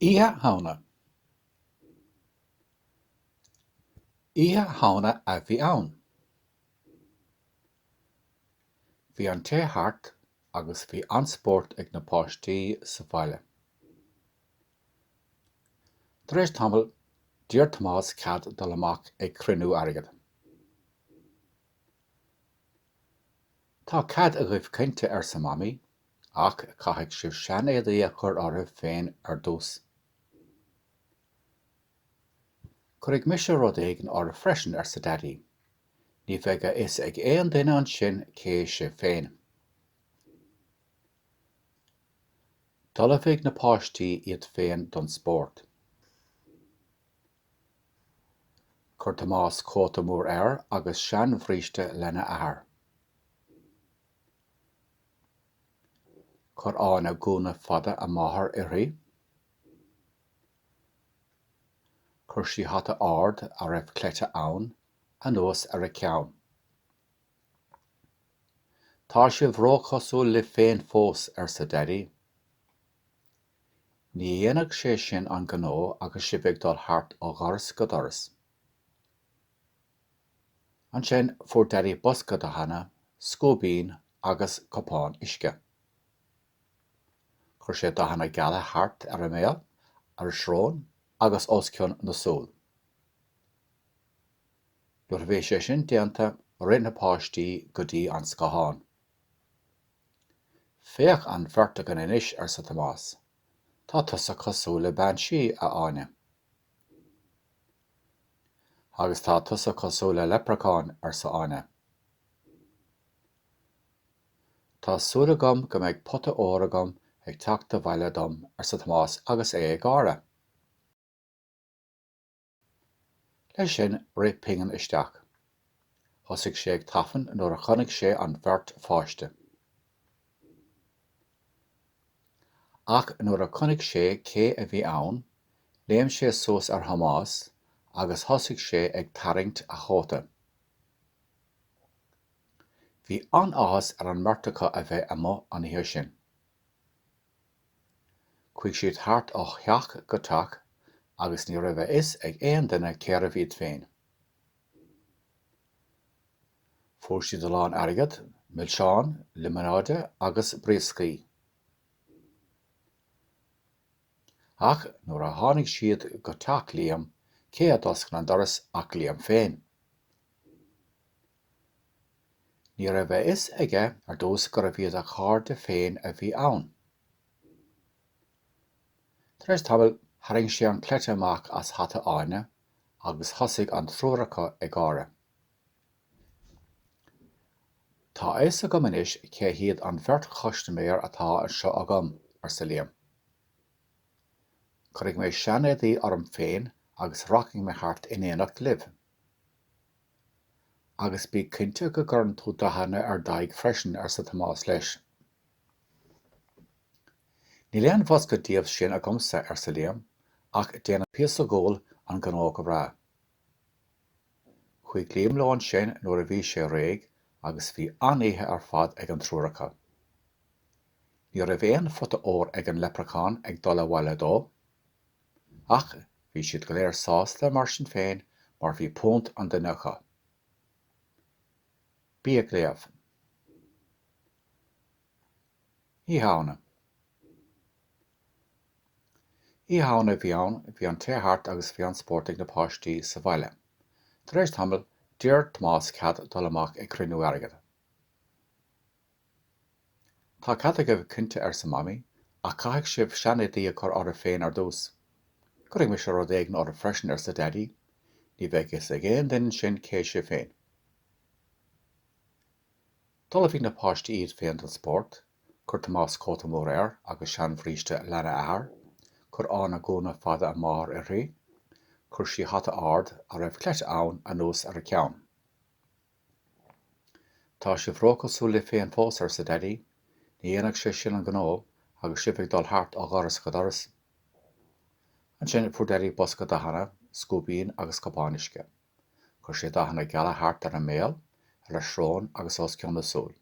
Oíche Shamhna Oíche Shamhna a bhí ann. Bhí an tae thart agus bhí an-spórt ag na páistí sa bhaile. Tar éis tamaill, d'iarr Tomás cead dul amach ag cruinniú airgead. Tá cead agaibh cinnte arsa Mamaí. Ach caithfidh sibh seanéadaí a chur oraibh féin ar dtús. Cuirfidh mise rud éigin oraibh freisin, arsa Daidí. Ní bheidh a fhios ag aon duine ansin cé sibh féin. D'ullmhaigh na páistí iad féin don spórt. Chuir Tomás cóta mór air agus seanbhríste lena athair. Chuir Áine gúna fada a máthar uirthi. Chuir sí hata ard a raibh cleite ann anuas ar a ceann. Tá sibh róchosúil libh féin fós, arsa Daidí. Ní dhéanfadh sé sin an gnó agus sibh ag dul thart ó dhoras go doras. Ansin fuair Daidí bosca dathanna, scuaibín agus cupán uisce. Chuir sé dathanna geala thart ar a mbéal, ar a srón agus os cionn na súl. Nuair a bhí sé sin déanta, rith na páistí go dtí an scáthán. Féach an bheirt againn anois, arsa Tomás. Tá tusa cosúil le bean sí, a Áine. Agus tá tusa cosúil le leipreachán, arsa Áine. Tá súil agam go mbeidh pota óir agam ag teacht abhaile dom, arsa Tomás agus é ag gáire. Leis sin, rith Pingin isteach. Thosaigh sé ag tafann nuair a chonaic sé an bheirt pháiste. Ach nuair a chonaic sé cé a bhí ann, léim sé suas ar Thomás agus thosaigh sé ag tarraingt a chóta. Bhí an-áthas ar an mbeirt acu a bheith amuigh an oíche sin. Chuaigh siad thart ó theach go teach agus ní raibh a fhios ag aon duine cérbh iad féin. Fuair siad a lán airgead, milseáin, liomanáide agus brioscaí. Ach nuair a tháinig siad go teach Liam, cé a d'oscail an doras ach Liam féin. Ní raibh a fhios aige ar dtús gurbh iad a chairde féin a bhí ann. Tar éis tamaill, tharraing sé an cleite amach as hata Áine agus thosaigh an triúr acu ag gáire. Tá a fhios agam anois cé hiad an bheirt chustaiméir atá anseo agam, arsa Liam. Cuirfidh mé seanéadaí orm féin agus rachaidh mé thart in éineacht libh. Agus bí cinnte go gcuireann tú dathanna ar d'aghaidh freisin, arsa Tomás leis. Níl aon bhosca díobh sin agamsa, arsa Liam, ach déanann píosa guail an gnó go breá. Chuaigh Liam leo ansin nuair a bhí sé réidh agus bhí an-oíche ar fad ag an triúr acu. Ní raibh aon phota óir ag an leipreachán ag dul abhaile dó, ach bhí siad go léir sásta mar sin féin mar bhí punt an duine acu. Bí ag Léamh! Oíche Shamhna. Oíche Shamhna a bhí ann, bhí an tae thart agus bhí an-spórt ag na páistí sa bhaile. Tar éis tamaill, d'iarr Tomás cead dul amach ag cruinniú airgead. Tá cead agaibh cinnte arsa Mamaí, ach caithfidh sibh seanéadaí a chur oraibh féin ar dtús. Cuirfidh mise rud éigin oraibh freisin arsa Daidí, ní bheidh a fhios ag aon duine ansin cé sibh féin. D'ullmhaigh na páistí iad féin don spórt. Chuir Tomás cóta mór air agus seanbhríste leathair a athar. Chuir Áine gúna fada a máthar uirthi. Chuir sí hata ard, a raibh cleite ann, anuas ar a ceann. 'Tá sibh róchosúil libh féin fós, arsa Daidí. 'Ní dhéanfadh sé sin an gnó agus sibh ag dul thart ó dhoras go doras. Ansin fuair Daidí bosca dathanna, scuaibín agus cupán uisce. Chuir sé dathanna geala thart ar a mbéal, ar a srón agus os cionn a súl.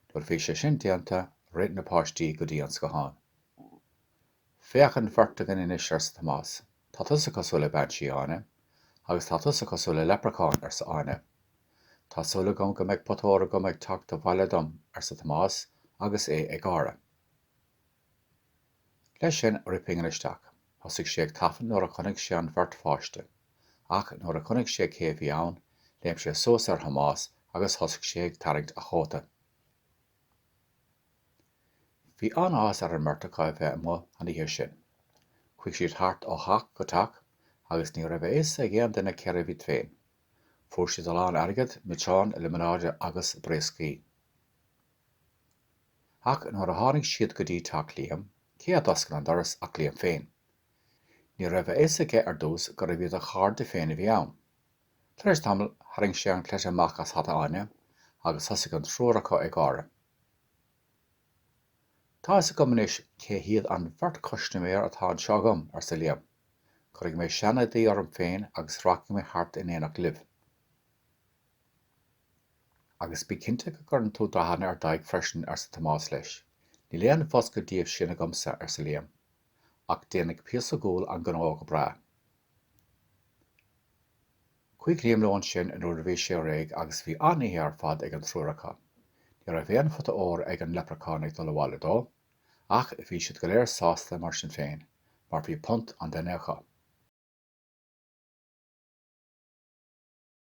Nuair a bhí sé sin déanta, rith na páistí go dtí an scathán. Féach an bheirt againn anois, arsa Tomás. Tá tusa cosúil le bean sí, Áine. Agus tá tusa cosúil le leipreachán, arsa Áine. Tá súil agam go mbeidh pota óir agam ag teacht abhaile dom, arsa Tomás, agus é ag gáire. Leis sin, rith Pingin isteach. Thosaigh sé ag tafann nuair a chonaic sé an bheirt pháiste. Ach nuair a chonaic sé cé a bhí ann, léim sé suas ar Thomás agus thosaigh sé ag tarraingt a chóta. Bhí an-áthas ar an mbeirt acu a bheith amuigh an oíche sin. Chuaigh siad thart ó theach go teach agus ní raibh a fhios ag aon duine cérbh iad féin. Fuair siad a lán airgid, milseáin, liomanáide agus brioscaí. Ach nuair a tháinig siad go dtí teach Liam, cé a d'oscail an doras ach Liam féin. Ní raibh a fhios aige ar dtús gurbh iad a chairde féin a bhí ann. Tar éis tamaill, tharraing sé an cleite amach as hata Áine agus thosaigh an triúr acu ag gáire. Tá fhios agam anois cé hiad an bheirt chustaiméir atá anseo agam, arsa Liam. Cuirfidh mé sean-éadaí orm féin agus rachaidh mé thart in éineacht libh. Agus bí cinnte go gcuireann tú dathanna ar d'aghaidh freisin, arsa Tomás leis. Níl aon bhosca díobh sin agamsa, arsa Liam, ach déanfaidh píosa guail an gnó go breá. Chuaigh Liam leo ansin nuair a bhí sé réidh agus bhí an-oíche ar fad ag an triúr acu. Ní raibh aon phota óir ag an leipreachán ag dul abhaile dó, ach bhí siad go léir sásta mar sin féin, mar bhí punt an duine acu.